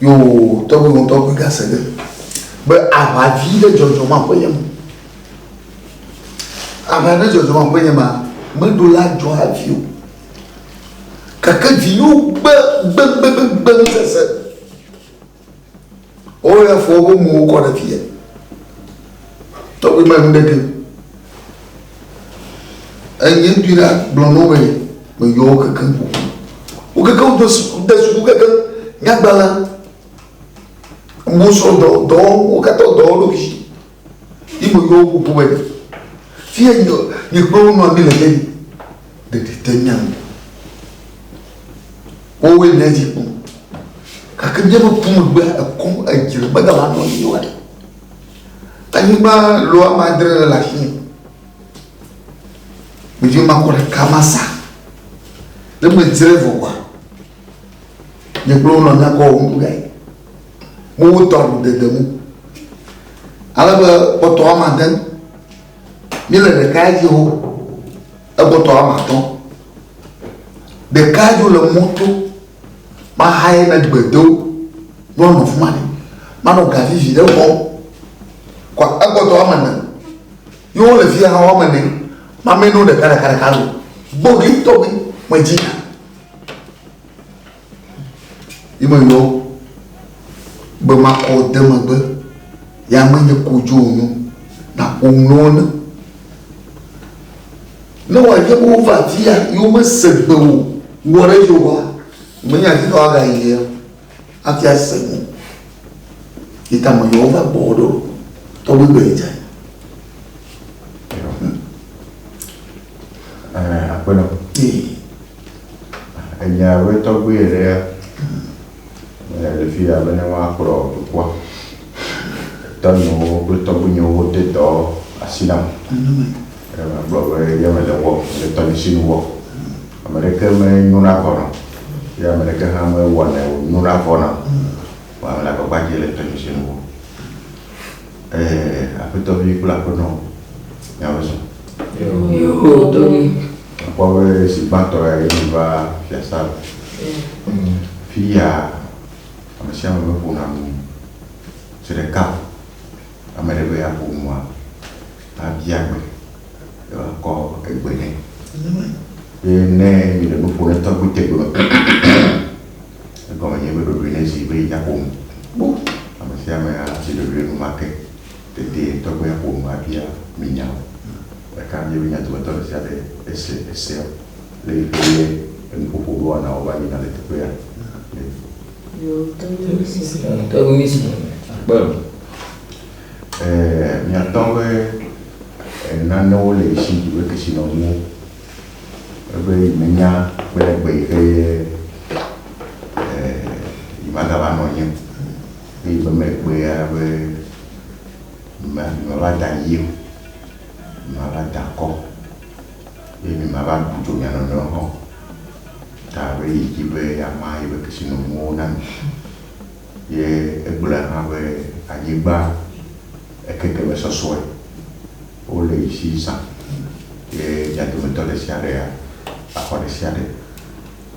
Yoo, tɔgbi ŋu tɔgbi gase ɖe be aʋa vi ɖe dzɔdzɔ ma ƒe nye me. Aʋa ɖe dzɔdzɔ ma ƒe nye ma, me ɖo la dzɔ avi o. Keke vi yo gbe gbe gbe gbe gbe ŋu sese. O ya fo wo mu wo kɔ ɖe fie. Tɔgbi ma ŋu ɖe ke. Eye ŋutɔe la gblɔ na wo be, meyɔ wo kekeŋ ƒo ƒu. Wo kekeŋ wode suku, de suku kekeŋ, nyagbalẽ, wosrɔ̃dɔ, dɔ, wo katã wodɔ wo ɖokui. Ye meyɔ wo ƒo ƒu be, fi ya nye, nye kple wo nɔ anyi le ke ɖi, ɖeɖi te mía ŋu. Wowoe nye edzi kpɔ. Gake míaƒe ƒumegbea, ekɔ, edzre megale anɔ anyi o haɖe. Anyigba lo ame adre ɖe le afi. Ɖevi ma kɔ ɖeka ma sa. Ne medzre vɔ kɔa, nye kple wonɔ nyakɔ wɔ ŋku gae. Mo wotɔ aɖu dede mu. Ale be kpɔtɔ woame ade míele ɖeka dzi wo ekpɔtɔ woame atɔ̃. Ɖeka dzo le moto Mahae ne gbe do, ne wonɔ afi ma ne. Manɔ ga vivi ɖe xɔ. Kɔ egbɔtɔ woame ene. Ye wole fi hã woame ene. Mamɛ no ɖeka ɖeka ɖeka lo. Gbogui tɔgbi me dzi. Yi me yɔ be makɔ de megbe. Ya me nye kodzo onyo na omlɔ ne. Ne wòanye be wova afia ye womese gbe o, wɔ ɖe edzi oa, menye afi ka woagayi le o, hafi ase gbe. Yi ta meyɔ wo va gbɔwò ɖo, tɔgbe be yedze anyi. Eh, aƒenɔ, Ee, enya be tɔgbe ɖe eh, le fi ya bene woakplɔ dukɔa. Tɔnyewo kple tɔgbuinyewo de dɔ asi nam. Ke magblɔ be ye mele wɔ, mele tɔdzisinu wɔ. Ame ɖeke menyona vɔ nam, ye ame ɖeke hã mewɔnɛ wònyona vɔ nam o. Vɔa mele agbagba dzem le tɔdzisinu wɔ. Ɛɛ, Aƒetɔvi kple Aƒenɔ, miawo zɔ. Àkpɔ be zi gbãtɔ ye meva fiasã me. Fiya Ame sia ame meƒona nu o. Zi ɖeka ame ɖe be yeaƒo nua, abia gbe ye woakɔ egbe nɛ. Ye ne mile nu ƒom ɖe tɔgbi tegbe me, egɔme nye be ɖoɖoe nye zi be yeaƒo nu. Kpɔ ame sia ame azi ɖoɖoe enumake. Dedie tɔgbia ƒo nu abia mi nya o. Ɖeka bia be nya dometɔ ɖe sia ɖe ese esea? le yi ke nye enuƒoƒo be woana wova yina le teƒea me. Ɛɛ, mìatɔ be e, nanewo le esi yi be kesinɔnuwo ebe yi menya kple egbe yi ke ye e, yi magava nɔ anyi o. Be yi be megbea be mi mava da yi o, mi mava da akɔ. Ye mimava bu dzo mia nɔnɔewo hã o, ta alo yi dzi be yeama yeƒe kesinɔnuwo na mi. Ye egblɔe hã be anyigba ekeke me sɔsɔe, wole yi si zã, ye mia dometɔ ɖe sia ɖe axɔ ɖe sia ɖe.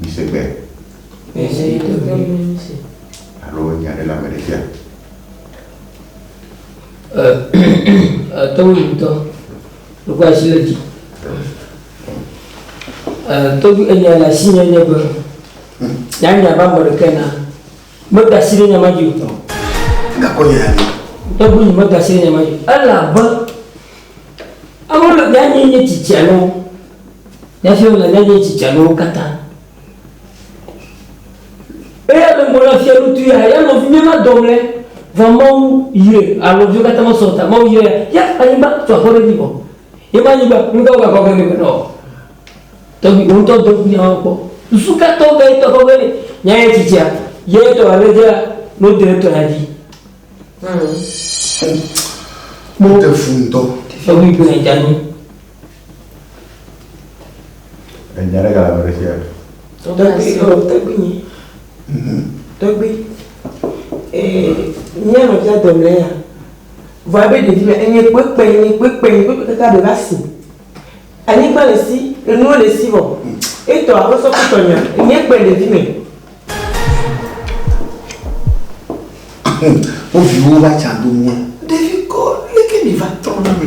Mise gbe si alo nya ɖe le ame ɖe fia. Ate ŋu ŋutɔ. Ɖeko asi le dzi. Ɛɛ, tɔgbi enya le asinye nye be, nya nya va ame ɖeke na. Meda asi ɖe nya ma dzi o. Gakɔ nya ya mi. Tɔgbi nye meda asi ɖe nya ma dzi. Ele abe, ame le, nya nye nye tsitsia nɔwo. Nya si le nya nye tsitsia nɔwo katã. Eya me gblɔ na fiaɖutu ya, ya nɔvinye ma dɔm le, vɔ Mawu yre a nɔviwo katã me sɔ ta. Mawu yre ya, ya anyigba tu aƒe ɖe dzi vɔ. Ye ma anyigba, nu ka wogakɔ ge nɛ be nɔ? Tɔgbi, wò ŋutɔ dɔ ŋkunya wɔ kpɔ. Susu ka tɔ ge tɔ kɔ ge nɛ? Nya yɛ tsitsia, ye tɔ la ne dzea, ne wode ɖe tɔ la dzi. Mmm. Mɔ. Te fu ŋutɔ. Tɔgbi gbe dza nyi. Enya ɖe gale me ɖe fia. Tɔgbi, ɔ, tɔgbi nyi. Tɔgbi. Ee, mía nɔ fia dɔ mlɛ ya. Vɔa be ɖevi mɛ, enye kpekpe, enye kpekpe, enye kpekpe kaka be va si. Anyigba le si, enuwo le si vɔ. Etɔ a kpɔsɔ kpɔtɔ nya, enye kpe ɖevi mɛ. Wo viwo va tsa do mɔ. Ɖevi kɔ, leke mi va trɔ na mɛ.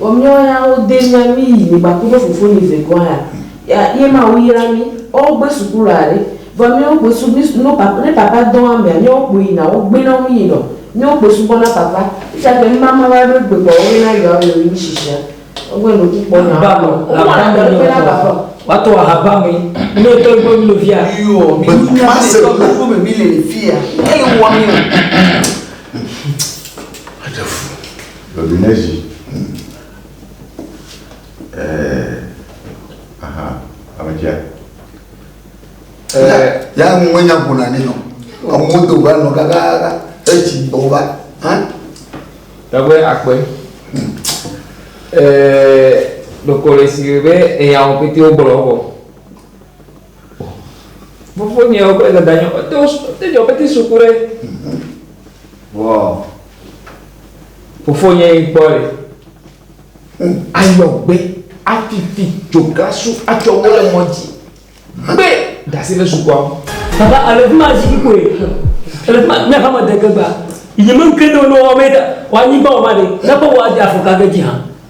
Vɔ miɔ ya wo de nya mi yi mi gbakuɖo fofonyi ve gɔn ya ya ye ma wu yra mi ɔ wo gbe suku lɔ aɖe vɔ miɔ wo gbe su mi no papa ne papa dɔn amea miɔ wo kpo yi na wo gbe nɔ mi yi nɔ miɔ wo kpo subɔ na papa fia ke ŋma ma va ɖo egbe kpɔ wo na yɔ awe mi shishia wo gbe no ku kpɔ nya wo wo mɔ na dɔ na papa o. Watu ahaba me ne tɔ ibo mi lovia. Yo, mi ni na se ko ko me mi le fia. Ele wa mi o. Dominezi, Hm, ee, aha, ametia. Ee, ya ŋu wenya ƒona ne nɔ. Amewo do va nɔ kakaka, etsi gbɔ va, hã? Tɔgbe akpe. Ee, ɖokɔ le si be eyawo pete wogblɔ vɔ. Fofonyewo kple dadanyewo, wote wo su- wote dzɔ peti suku ɖe. Vɔ fofonye yi kpɔ ɖe. Ayɔgbe, afifi, dzogasu, atsɔ wo le mɔ dzi. Gbe dasi ɖe sukua ŋu. Papa, ele fi ma zikpui kɔe. Ele fi ma, mía ƒe ame de ke gba. Yi me ŋke ɖewo ne woawɔ be ɖa, woanyigba wɔ ma ɖe, ne kpɔ woade afɔkage dzi hã.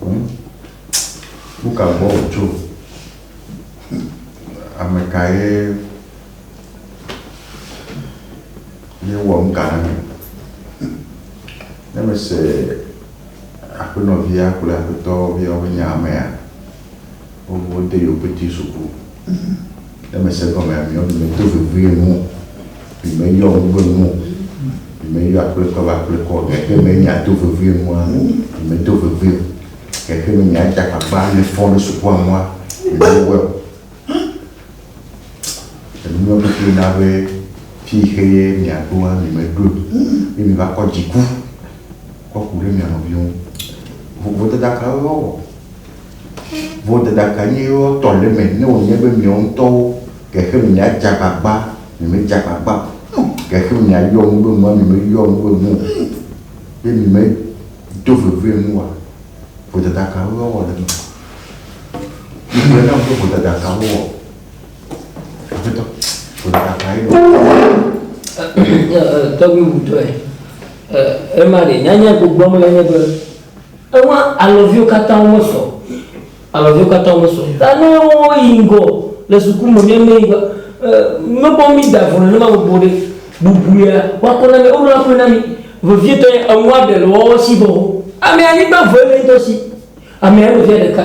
Hm, nuka gbɔ wòtso? Hm, amekae ye wɔ nuka na mi? Hm, ne mese aƒenɔvia kple aƒetɔvia be nye amea, Wowo de yewo pete suku. Ne me se gɔme ame yɔ mi me do vevie nu o. Mi me yɔ ŋu be nu o. Mi me yɔ akple kɔ be akple kɔ o. Gake me nya do vevie nu a mi me do vevie o. Gake me nya dza gbagba mi fɔ ɖe suku a nua mi me wɛ o. Enu yɔ mi kple na be fi yi xe ye mi a ɖo a mi me ɖoe o. Ye mi va kɔ dziku kɔ ku ɖe mia nɔviwo ŋu. Vodada kawo ye wa wɔ? Vodada ka nye yewo tɔ le eme ne wònye be miawo ŋutɔwo gexe me miadze agbagba, miemedze agbagba o? Gexe me miayɔ nu be nua, miemeyɔ nu be nu o? Be miemedo vevie nua? Vodada ka wowɔ le eme? Migblɔ nam be vodada ka wowɔ. Aƒetɔ, vodada kae nèwɔ? Tɔgbi ŋutɔe. Ema ɖe, nyanya gbogboa me lae nye be, Ewa alɔviwo katã womesɔ. Alɔviwo katã womesɔ. Ta ne woyi ŋgɔ le suku me, míameɛ ŋgɔa, mekpɔ mí da vɔ nenema gbogbo ɖe, bubuia, woakɔ na mí, woɖo akɔe na mí. Vevietɔ nye eŋua ɖe le woawo si vɔ ho. Amea, anyigba vɔe le eŋutɔ si. Amea, nɔvia ɖeka.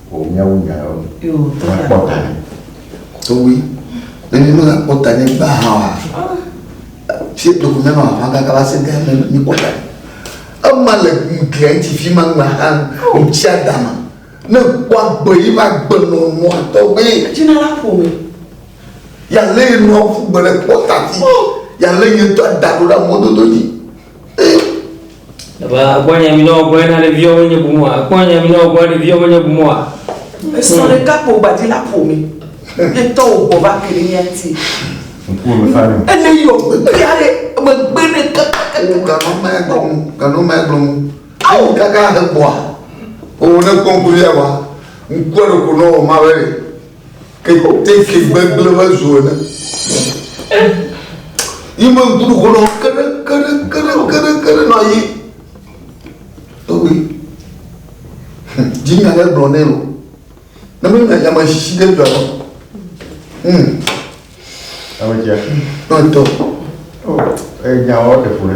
Wò míawo nyawo ni. Wò akpɔ ta ni. Towe. Nenye mele akpɔ ta ni gba hã wa. Fie to kumia no ahwa kaka va se gã ne mi kpɔ ta. Ema le glia ŋuti fi ma ŋgba hã ŋuti adama. Ne kpɔ agbe yi ma gbe nɔ nua tɔgbe. Dzina la ƒo me. Ya le nua ƒu gbe le kpɔ ta ti. Ya le nye tɔ da ɖo ɖe mɔdodo dzi. Ebe ekpɔ nya mi ne wògbɔ ena ɖe viɔ wonye bu mua? Ekpɔ nya mi ne wògbɔ ɖe viɔ wonye bu mua? Esɔ hmm. ɖeka kpo gbadzi la ƒo mi. Ye tɔ wò gbɔ va ke ɖe mía ti. Ene yɔ gbegbe ya ɖe megbe ɖe kaka. Wo ganɔ mɛ gblɔm, ganɔ mɛ gblɔm. Awo kaka he gbɔa. O ne kpɔnkpɔ ya wa. Ŋkua ɖe ko nɔ o ma bɛ. Keteke gbegblẽ me zu ene. Yi me ŋku ɖo nɔ keɖe keɖe keɖe keɖe keɖe nɔ yi. Tɔgbe. Dzi nya ɖe gblɔ nɛ o. Ne me nya yame sisi ɖe dɔ. Hmm. Ame tia. Tɔntɔ. Oh, eh, nya wɔ ɖe fu ɖe.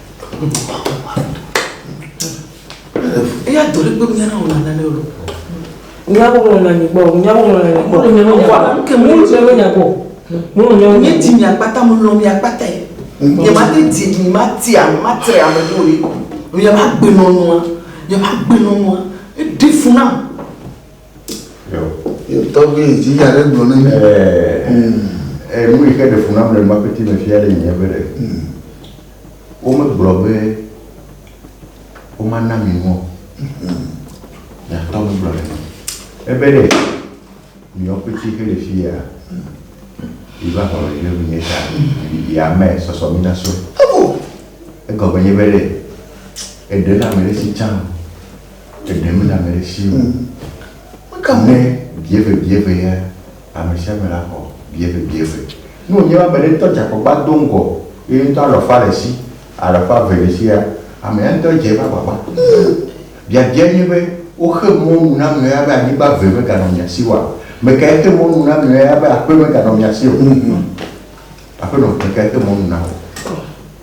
eya dɔ ɖe gbɔ nya na wòle nane o nya wòle na nyi gbɔ nya wòle na nyi gbɔ wòle nya wòle nya gbɔ kemi wòle nya nya gbɔ wòle nya nye ti mi akpata mo lɔ mi akpata yi nye ma te ti mi ma ti a ma tre ame ɖewo yi nye ma gbe nɔnɔa nye ma gbe nɔnɔa eɖe funa. Tɔgbi dzi ya ɖe gblɔ ne mi. Ɛɛ nu yi ke ɖe fu nam le nubakpeti me fia le nye be ɖe womegblɔ be womana mi nu o. Nyatɔ megblɔ ne mi. Ebe ɖe miwo kpeti ke le fi ya yi va xɔ le ɖe nye ta yi ame sɔsɔ mi na so. Egɔme nye be ɖe eɖe na me ɖe si can. Ɖeɖe mele ame ɖe si o. Meka mu ne bieve bieve ye ame sia ame la xɔ bieve bieve. Ne wònye be ame ɖe ŋutɔ dze agbagba do ŋgɔ ye ŋutɔ alɔ fa le esi, alɔ fa ve le esia, amea ŋutɔ edze eƒe agbagba. Biabia nye be, woxe mɔ nu na ame ya be anyigba ve meganɔ mia si oa? Mekae xe mɔ nu na ame ya be aƒe meganɔ mia si o? Aƒenɔ, mekae xe mɔ nu na wò?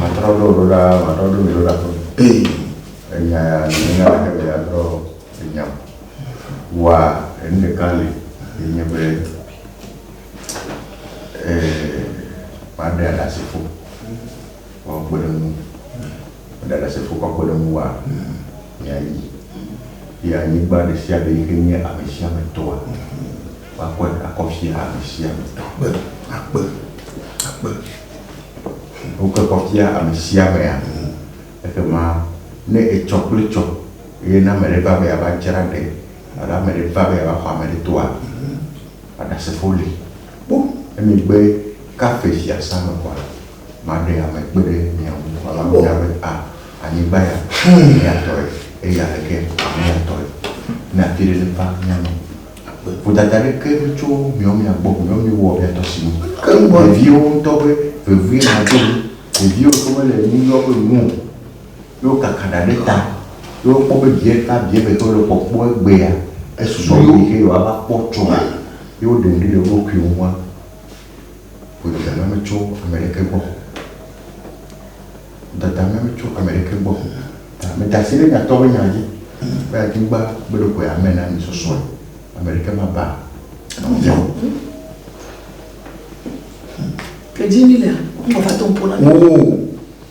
Matrɔ ɖo ɖo ɖa, matrɔ ɖo mi ɖo ɖa ƒe. Ee. Enya ya nenya ɖeke le ya trɔ enya o. Wa enu ɖeka li yi nye be ee maɖe aɖasefo wɔ kpeɖeŋu. Ɖasefo ƒe akpɔɖeŋu wa mia yi be anyigba ɖe sia ɖe yike nye ame sia ame tɔa, woakɔe akɔ fia ame sia ame tɔ. Akpe, akpe, akpe. Wokɔe kɔ fia ame sia amea. Ekema ne etsɔ kple tsɔ eye ne ame ɖe va be yeava dzra ɖe alo ame ɖe va be yeava xɔ ame ɖe tɔa, Ɖasefo li kpɔ emegbe kafe fiasã me kpɔ la. Maɖe ame kpe ɖe mia ŋu wòava bia be, A, anyigba ya, mia tɔe, eye aleke ame ya tɔe? Ne afi ɖe ne va mía me akpɔe. Vodada aɖeke metso miawo mia gbɔ o, miawo miewɔ mia tɔ si nu. Veviewo ŋutɔ ƒe vevie nɔ to mi, veviewo yi ke mele nu yɔ ƒe nu o, ye wokaka ɖa ɖe ta, ye wokpɔ be vie ɖeka, vie eve yi ke wole kpɔkpɔ egbea, esusɔ wo yi ke yewoava kpɔ tsɔ, ye woɖe ŋɖe le wo ɖokuiwo ŋua. Ƒo dadame me tso ame ɖeke gbɔ. Dadame me tso ame ɖeke gbɔ. Ta meda asi ɖe nyatɔ ƒe nya dzi be anyigba gbe ɖokoe ame na mi sɔsɔe. Ame ɖeke maba nɔvia o. Ke dzi mi lea, ŋgɔ va to ŋpo na mi. Oo.